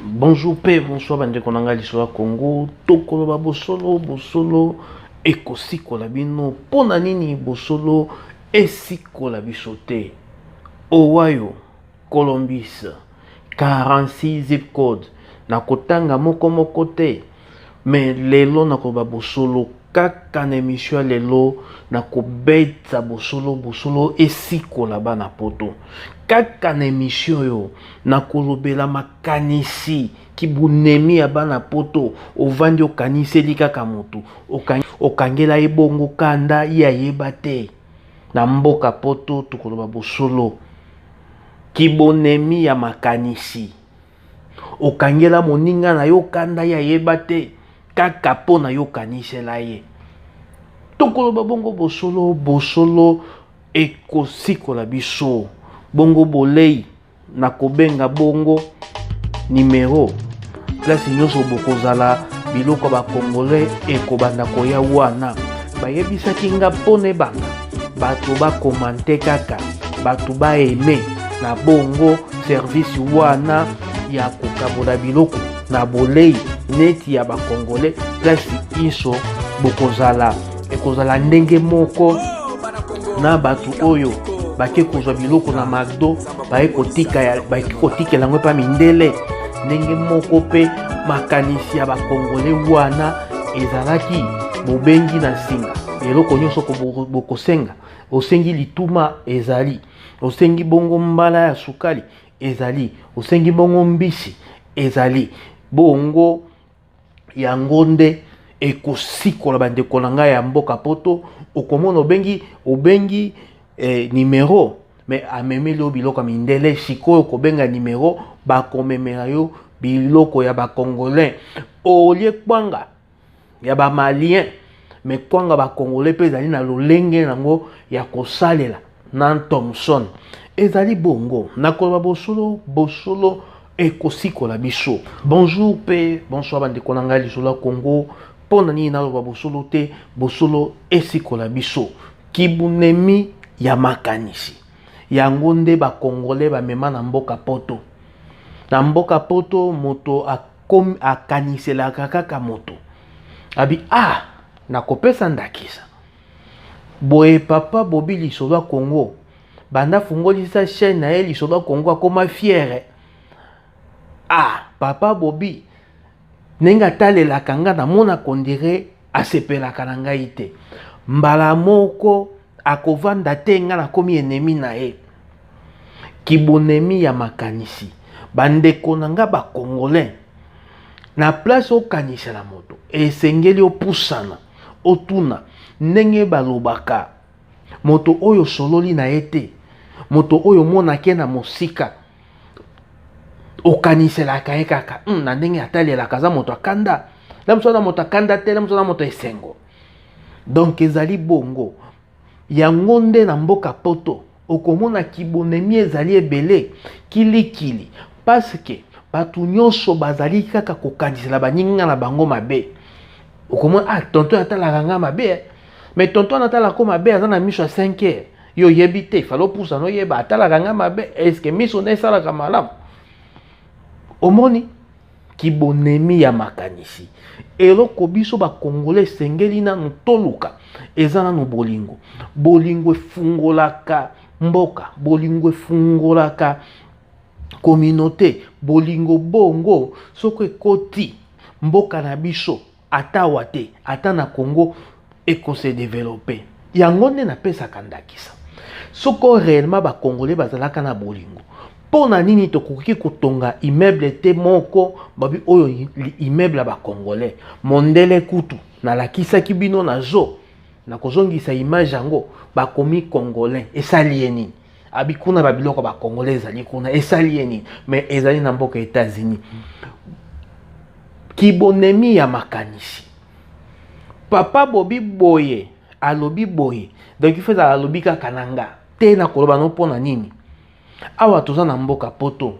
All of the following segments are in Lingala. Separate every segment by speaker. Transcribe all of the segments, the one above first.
Speaker 1: Bonjour pe bonsoir bandeko na ngai lisolo ya Congo, tokoloba bosolo bosolo ekosikola bino. Mpo na nini bosolo esikola biso te? Ohio, Columbus, 46 zip code na kotanga moko moko te. Mais lelo na koba bosolo kaka na emission ya lelo na kobeta bosolo bosolo esikola bana poto kaka na emission oyo na kolobela makanisi kibunemi ya bana poto ovandi okaniseli kaka motu okangela ye bongo kanda ye ayeba te na mboka poto tokoloba bosolo kibonemi ya makanisi okangela moninga na yo kanda ye ayeba te kaka mpo na yo okanisela ye tokoloba bongo bosolo bosolo ekosikola biso bongo bolei na kobenga bongo nimero place nyonso bokozala biloko ya bakongole ekobanda koya wana bayebisaki nga mpo na ebanda bato bakomante kaka bato baeme na bongo service wana ya kokabola biloko na bolei neti ya bakongole place inso bokozala ekozala ndenge moko na bato oyo bake kozwa biloko na magdo baye kotikela yango epa mindele ndenge moko mpe makanisi ya bakongole wana ezalaki bobengi na nsinga eloko nyonso bokosenga osengi lituma ezali osengi bongo mbala ya sukali ezali osengi bongo mbisi ezali bongo yango nde ekosikola bandeko na ngai ya mboka poto okomona obengi obengi eh, nimero me amemeli yo biloko ya mindele sikoyo kobenga nimero bakomemela yo biloko ya bacongolais olie kwanga ya ba malien me kwanga bakongole mpe ezali na lolenge yango ya kosalela na thomson ezali bongo na koloba bosolo bosolo ekosikola biso bonjour mpe bonsoir bandeko na ngai lisolo ya kongo mpo na nini naloba bosolo te bosolo esikola biso kibunemi ya makanisi yango nde bakongole bamema na mboka poto na mboka poto moto comme akaniselaka kaka moto abi ah nakopesa ndakisa boye papa bobi lisoba congo banda afungolisa chaîne na ye lisoba congo akoma fiere ah papa bobi ndenge atalelaka nga namona kondire asepelaka na ngai te mbala moko akovanda te ngai nakomi enemi na ye kibonemi ya makanisi bandeko na ngai bacongolais na place okanisela moto esengeli opusana otuna ndenge balobaka moto oyo osololi na ye te moto oyo omonaki ye na mosika okaniselaka ye kaka hmm, na ndenge atalelaka aza moto akanda na moto aza moto akanda te na moto aza moto esengo donk ezali bongo yango nde na mboka poto okomona kibonemi ezali ebele kilikili paske bato nyonso bazali kaka kokanisela baninga na bango mabe okomona ah tonton atalaka nga mabe eh. mais tonton anatalaka mabe aza na miso ya 5 heures yo yebi te fale opusa noyeba atalaka ngai mabe eske miso nde esalaka malamu omoni kibonemi ya makanisi eloko biso bakongole esengeli nanu toluka eza nanu bolingo bolingo efungolaka mboka bolingo efungolaka communauté bolingo bongo soko ekoti mboka na biso Ata awa te, ata na Congo eko se developper. Yango nde napesaka ndakisa. Soko reellement ba Congolais bazalaka na bolingo, mpo na nini tokoki kotonga immeuble te moko babi oyo immeuble ya bacongolais mondele kutu nalakisaki bino na zo na kozongisa image yango bakomi congolais esali ye nini abi kuna ba biloko ba congolais ezali kuna esali ye nini mais ezali na mboka états-unis kibonemi ya makanisi papa bobi boye alobi boye donc ife ezala alobi kaka na nga te na koloba no mpo na nini awa toza na mboka poto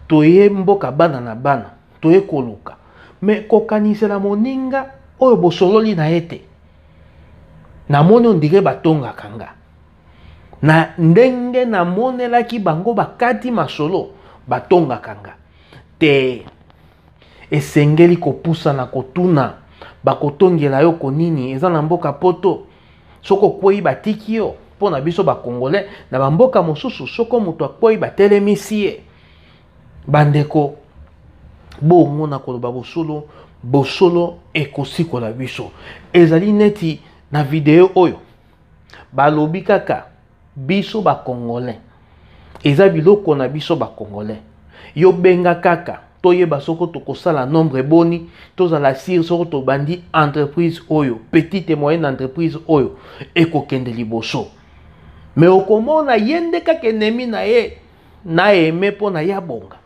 Speaker 1: toye mboka bana na bana toye koluka me kokanisela moninga oyo bosololi na ye te namoni ondire batongaka nga na ndenge namonelaki bango bakati masolo batongaka nga te esengeli kopusana kotuna bakotongela yo konini eza na mboka poto soki okwei batiki yo mpo na biso bakongole na bamboka mosusu soko moto akwei batelemisi ye bandeko bongo na koloba bosolo bosolo ekosikola biso ezali neti na video oyo balobi kaka biso ba congolais eza biloko na biso ba congolais yo benga kaka toyeba soko tokosala nombre boni tozala sire soko tobandi entreprise oyo petite et moyenne entreprise oyo ekokende liboso me okomona ye nde kaka enemi na ye na aime mpo na ye abonga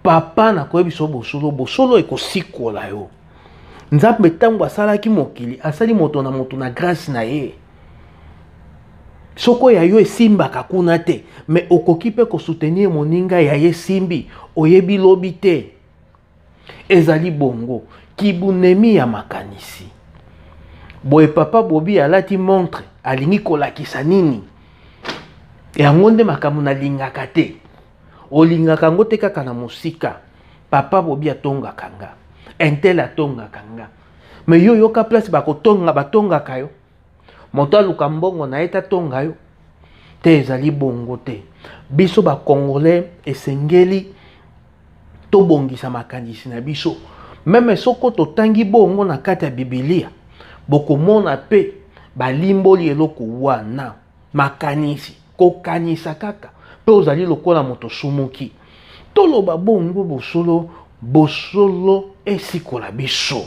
Speaker 1: papa nakoyebisa yo bosolo bosolo ekosikola yo nzambe ntango asalaki mokili asali moto na moto na grâce na ye soko ya yo esimbaka kuna te me okoki mpe kosoutenir moninga ya ye esimbi oyebi lobi te Ezali bongo kibunemi ya makanisi. Boye papa Bobi alati montre, alingi kolakisa nini? Yango nde makambo nalingaka te. Olingaka yango te kaka na mosika. Papa Bobi atongaka nga, Intel atongaka nga, me yo yoka place bakotonga batongaka yo moto aluka mbongo na ye tatonga yo te ezali bongo te biso bacongolais esengeli tobongisa makanisi na biso meme soko totangi bongo na kati ya bibilia bokomona mpe balimboli eloko wana makanisi kokanisa kaka mpe ozali lokola moto sumuki toloba bongo bosolo bosolo esikola biso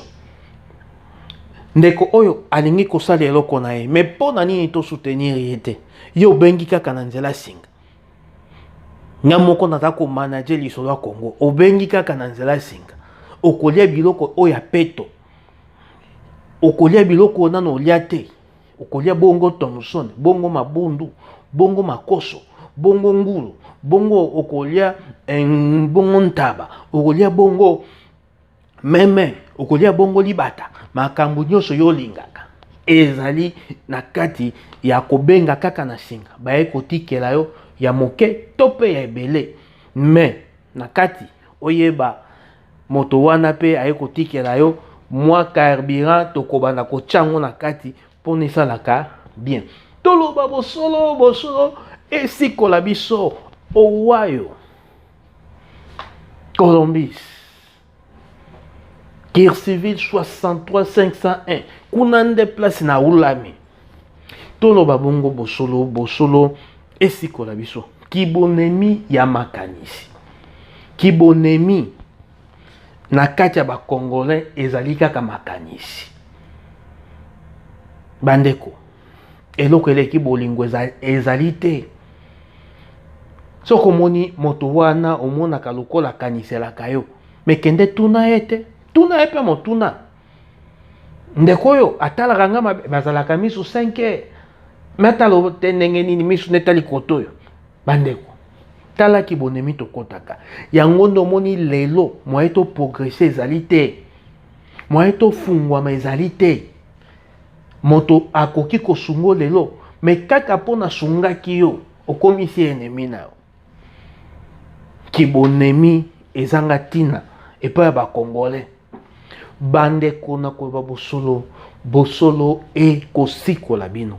Speaker 1: ndeko oyo alingi kosala eloko na ye me mpo na nini tosoutenir ye te ye obengi kaka na nzela singa nga moko naza komanage lisolo ya kongo obengi kaka na nzela singa okolia biloko oyo ya peto okolia biloko oyo nano olia te okolia bongo thomson bongo mabundu bongo makoso bongo ngulu bongo okolia eh, bongo ntaba okolia bongo meme okolia bongo libata makambo nyonso yo olingaka ezali na kati ya kobenga kaka na singa baye kotikela yo ya moke to mpe ya ebele me na kati oyeba Moto wana pe aye kotikela yo mwa carburant tokobanda kotya yango na kati mpo na esalaka bien toloba bosolo bosolo esikola biso owayo colombis kircivil 63501 kuna nde place na ulami Toloba bongo bosolo, bosolo esikola biso. Kibonemi ya makanisi, kibonemi na kati ya bakongolais ezali kaka makanisi. Bandeko, eloko eleki bolingo ezali te. Soki omoni moto wana omonaka lokola akaniselaka yo, mekende tuna ye te, tuna ye mpe motuna. ndeko oyo atalaka nga mabe bazalaka misu 5 heures me atala te ndenge nini misu netali koto oyo bandeko tala kibonemi tokɔtaka yango nde omoni lelo moye toprogrese ezali te moye tofungwama ezali te moto akoki kosungo lelo me kaka mpo nasungaki yo okomisi enemi na yo kibonemi ezanga ntina epai ya bakongole bandeko na koyeba bosolo bosolo ekosikola bino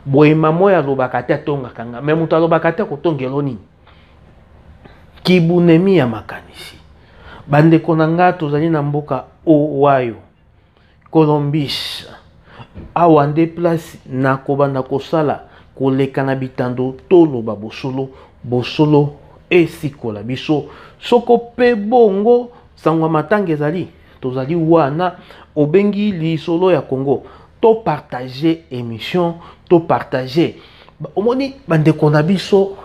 Speaker 1: boye mama oyo alobaka te atongaka nga me moto alobaka te akotongelo nini kibunemi ya makanisi bandeko na nga tozali na mboka owayo Colombis, Awa nde place na kobanda kosala koleka na bitando toloba bosolo, bosolo esikola biso soko pe bongo sango ya matanga ezali tozali wana obengi lisolo ya Congo to partage emission to partage omoni bandeko na biso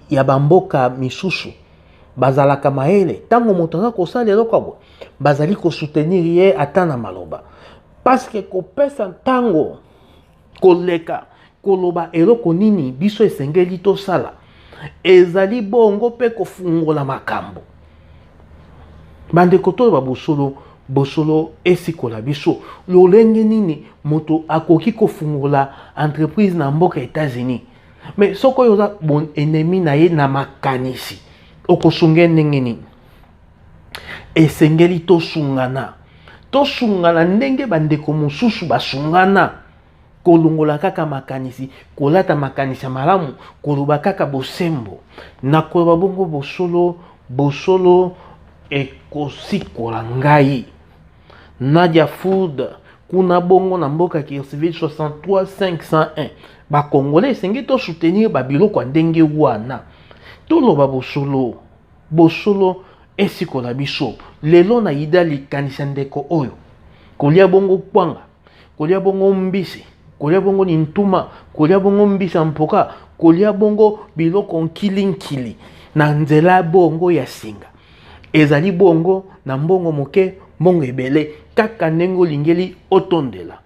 Speaker 1: ya bamboka misusu bazalaka mayele ntango moto aza kosala eloko ya boye bazali kosoutenir ye ata na maloba parceke kopesa ntango koleka koloba eloko nini biso esengeli tosala ezali bongo mpe kofungola makambo bandeko toloba bosolo bosolo esikola biso lolenge nini moto akoki kofungola entreprise na mboka etats-unis mais soki oyo oza bon ennemi na ye na makanisi okosunga ye ndenge nini esengeli tosungana tosungana ndenge bandeko mosusu basungana kolongola kaka makanisi kolata makanisi ya malamu koloba kaka bosembo na koloba bongo bosolo bosolo ekosikola ngai Nadia Food kuna bongo na mboka Kirsiville 63501 bakongolais esengeli tosoutenir babiloko ya ndenge wana toloba bosolo bosolo esikola biso lelo na yida likanisi ya ndeko oyo kolia bongo kwanga kolia bongo mbisi kolia bongo nintuma kolia bongo mbisa mpoka kolia bongo biloko nkilinkili na nzela bongo ya singa ezali bongo na mbongo moke mbongo ebele kaka ndenge olingeli otondela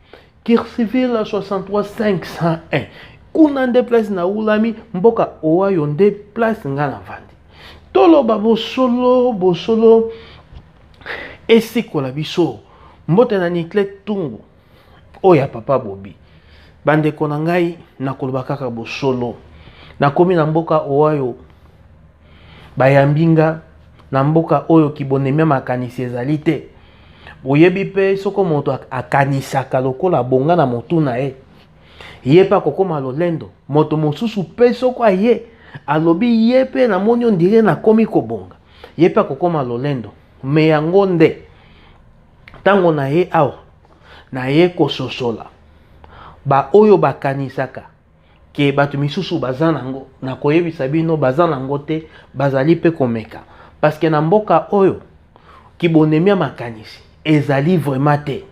Speaker 1: kirsiville 63501 kuna nde place na ulami mboka owayo nde place nga na vandi toloba bosolo bosolo esikola biso mbote na nicle tungu oyo ya papa bobi bandeko na ngai nakoloba kaka bosolo nakomi na mboka oyo bayambi nga na mboka oyo kibonemia makanisi ezali te oyebi mpe soko moto akanisaka lokola bonga na motu na ye ye mpe akokoma lolendo moto mosusu mpe soko aye alobi ye mpe namoni ondire nakomi kobonga ye mpe akokoma lolendo me yango nde ntango na ye awa naye kososola baoyo bakanisaka ke bato misusu baza nango nakoyebisa bino baza nango te bazali mpe komeka parceke na mboka oyo kibonemi ya makanisi ezali vraiment te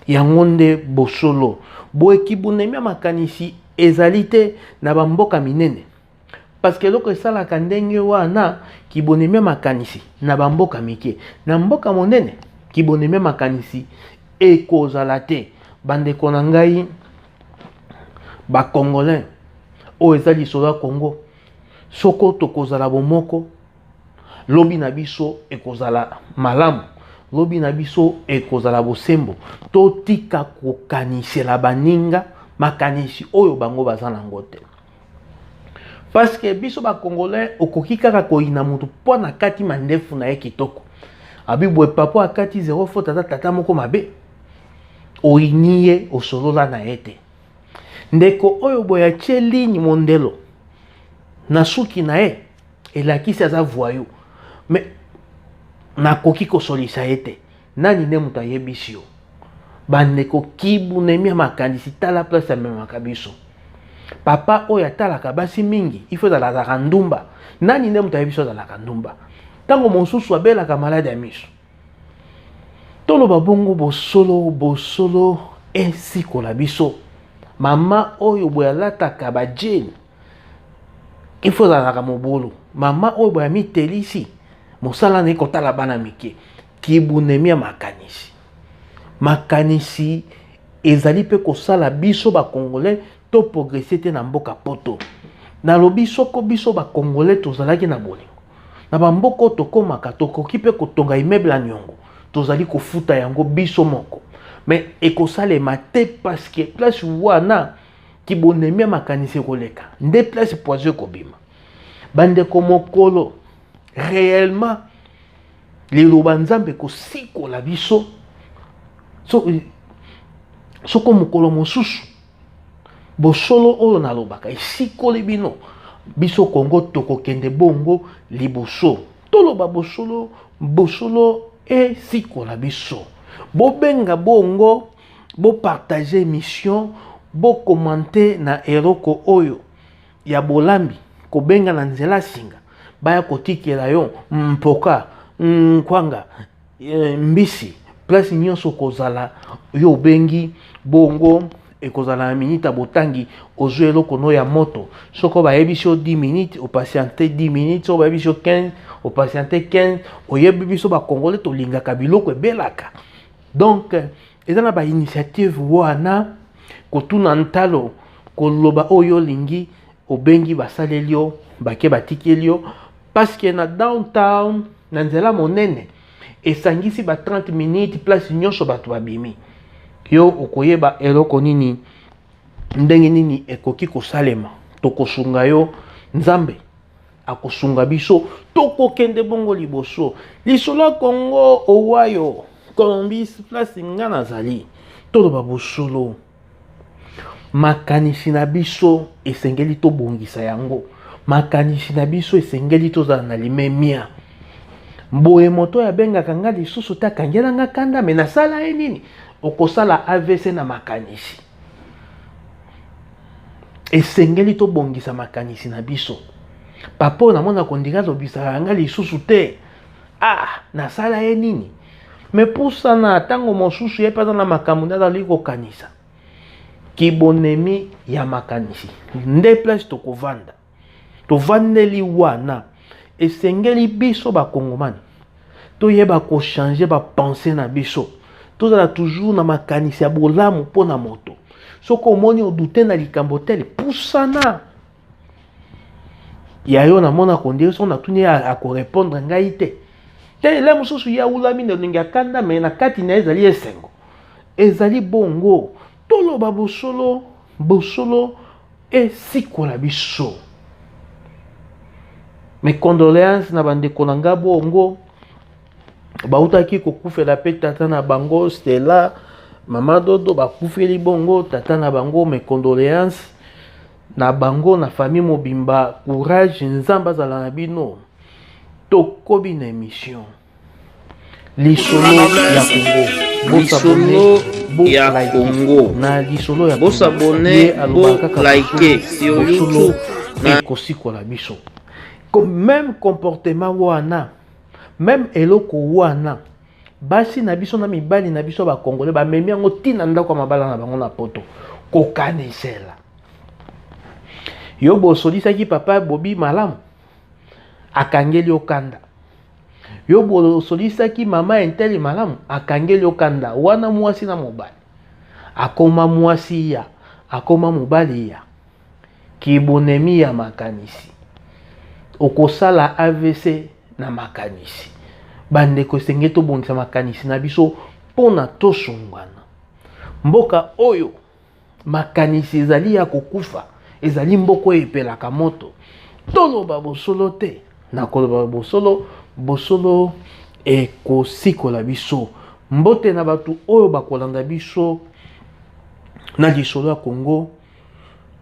Speaker 1: yango nde bosolo boye kibonemi ya makanisi ezali te na bamboka minene parce que eloko esalaka ndenge wana kibonemi ya makanisi na bamboka mike na mboka monene kibonemi ya makanisi ekozala te bandeko na ngai bacongolais oyo eza lisolo ya congo soko tokozala bomoko lobi na biso ekozala malamu lobi na biso ekozala bosembo totika kokanisela baninga makanisi oyo bango baza nango te parce que biso ba congolais okoki kaka koyina mutu mpo na kati mandefu na ye kitoko abibwe papa akati zero faute aza tata moko mabe oyini ye osolola na ye te ndeko oyo boye atye ligne mondelo na suki na ye elakisi aza voyou mais nakoki kosolisa ye te Nani nde moto ayebisi yo? Bandeko kibu nemia makanisi tala place amemaka biso. Papa oyo atalaka basi mingi, il faut azala azalaka ndumba. Nani nde moto ayebisi azalaka ndumba? Ntango mosusu abelaka maladi ya miso. Toloba bongo bosolo bosolo esikola biso. Mama oyo boye alataka bajeni, il faut azalaka mobulu. Mama oyo boye amitelisi, mosala na ye kotala bana mike. Kibunemi ya makanisi. Makanisi ezali mpe kosala biso bakongole to progrese te na mboka poto nalobi soko biso bakongole tozalaki na bolingo na bamboka oyo tokomaka tokoki mpe kotonga immeuble ya niongo tozali kofuta yango biso moko me ekosalema te parceke place wana kibonemi ya makanisi ekoleka nde place poison ekobima bandeko mokolo réellement Liloba Nzambe ekosikola biso so, soko mokolo mosusu bosolo oyo nalobaka esikoli bino biso kongo tokokende bongo liboso toloba bosolo bosolo esikola biso bobenga bongo bopartage émission bokomante na eloko oyo ya bolambi kobenga na nzela singa baya kotikela yo mpoka nkwanga eh, mbisi place nyonso kozala yo obengi bongo ekozala na minute botangi ozwi eloko no ya moto soko bayebisi yo 10 minutes opatiente 10 minutes soko bayebisi yo 15 opatiente 15 oyebi biso bakongole tolingaka biloko ebelaka donc eza na bainitiative wana kotuna ntalo koloba oyo olingi obengi basaleli yo bake batikeli yo parceke na downtown na nzela monene esangisi ba 30 minutes place nyonso bato babimi yo okoyeba eloko nini ndenge nini ekoki kosalema tokosunga yo nzambe akosunga biso tokokende bongo liboso lisolo ya kongo owayo colombis place nga nazali toloba bosolo makanisi na biso esengeli tobongisa yango makanisi na biso esengeli tozala na limemia boye moto oyo abengaka nga lisusu te akangela nga kanda me nasala ye nini okosala avc na makanisi esengeli tobongisa makanisi na biso papa oyo namona kondika alobisaka ngai lisusu te ah nasala ye nini me pusana ntango mosusu ye mpe aza na makambo nde azali kokanisa kibonemi ya makanisi nde place tokovanda tovandeli wana esengeli biso bakongomani toyeba kochange bapense na biso tozala toujours na makanisi ya bolamu mpo na moto soki omoni odute na likambo tele pusana ya yo namona kondire soki natuni akorepondre ngai te te ele mosusu ye awulami na elongi ya kanda me na kati na ye ezali esengo ezali bongo Toloba bosolo, bosolo esikola biso. Mes condoléances na bandeko na nga bongo bautaki kokufela mpe tata na bango Stella mama Dodo bakufeli bongo tata na bango mes condoléances na bango na famille mobimba courage nzambe azala na bino tokobi na emission lisolo ya kongo lisolo ya kongo na lisolo ya bosabone
Speaker 2: bolike sur youtube na kosikola
Speaker 1: biso meme comportement wana meme eloko wana basi na biso na mibali na biso bakongole bamemi yango ntina ndako ya mabala na bango na poto kokanisela yo bosolisaki papa bobi malamu akangeli okanda yo bosolisaki mama ya ntele malamu akangeli yo kanda wana mwasi na mobali akoma mwasi ya akoma mobali ya kibonemi ya makanisi okosala avc na makanisi bandeko esenge tobongisa makanisi na biso mpo na tosungwana mboka oyo makanisi ezali ya kokufa ezali mboko oyo epelaka moto toloba bosolo te na koloba bosolo bosolo ekosikola biso mbote na bato oyo bakolanda biso na lisolo ya kongo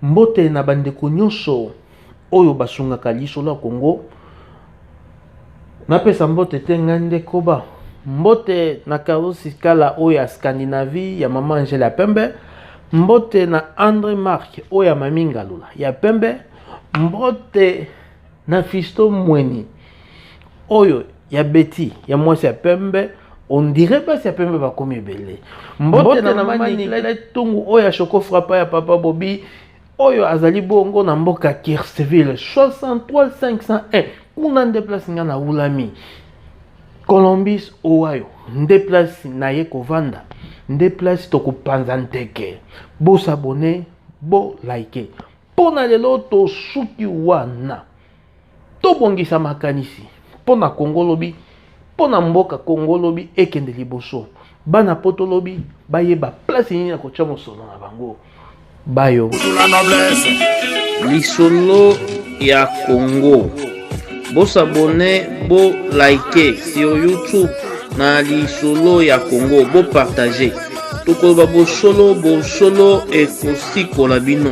Speaker 1: mbote na bandeko nyonso oyo basungaka lisolo ya kongo Napesa mbote te ngai nde koba. Mbote na Karusi Kala oyo ya Scandinavie ya mama Angela ya pembe. Mbote na Andre Mark oyo ya mami Ngalula ya pembe. Mbote na Fisto Mweni oyo ya Betty ya mwasi ya pembe. On dirait basi ya pembe bakomi ebele. Mbote na mama Nicolette Tungu oyo ya Choco Frappa ya papa Bobi. oyo azali bongo na mboka Kirchville 63501 kuna nde place nga na wulami Columbus Ohio nde place na ye kovanda nde place tokopanza nteke bosabone bo like mpo na lelo tosuki wana Tobongisa makanisi mpo na Congo lobi, mpo na mboka Congo lobi ekende liboso. Bana poto lobi bayeba place nini ya kotya mosolo na bango bayo.
Speaker 2: Lisolo ya Congo. Bosabone, bo like sur YouTube na lisolo ya Congo, bo partage. Tokoloba bosolo, bosolo ekosikola bino.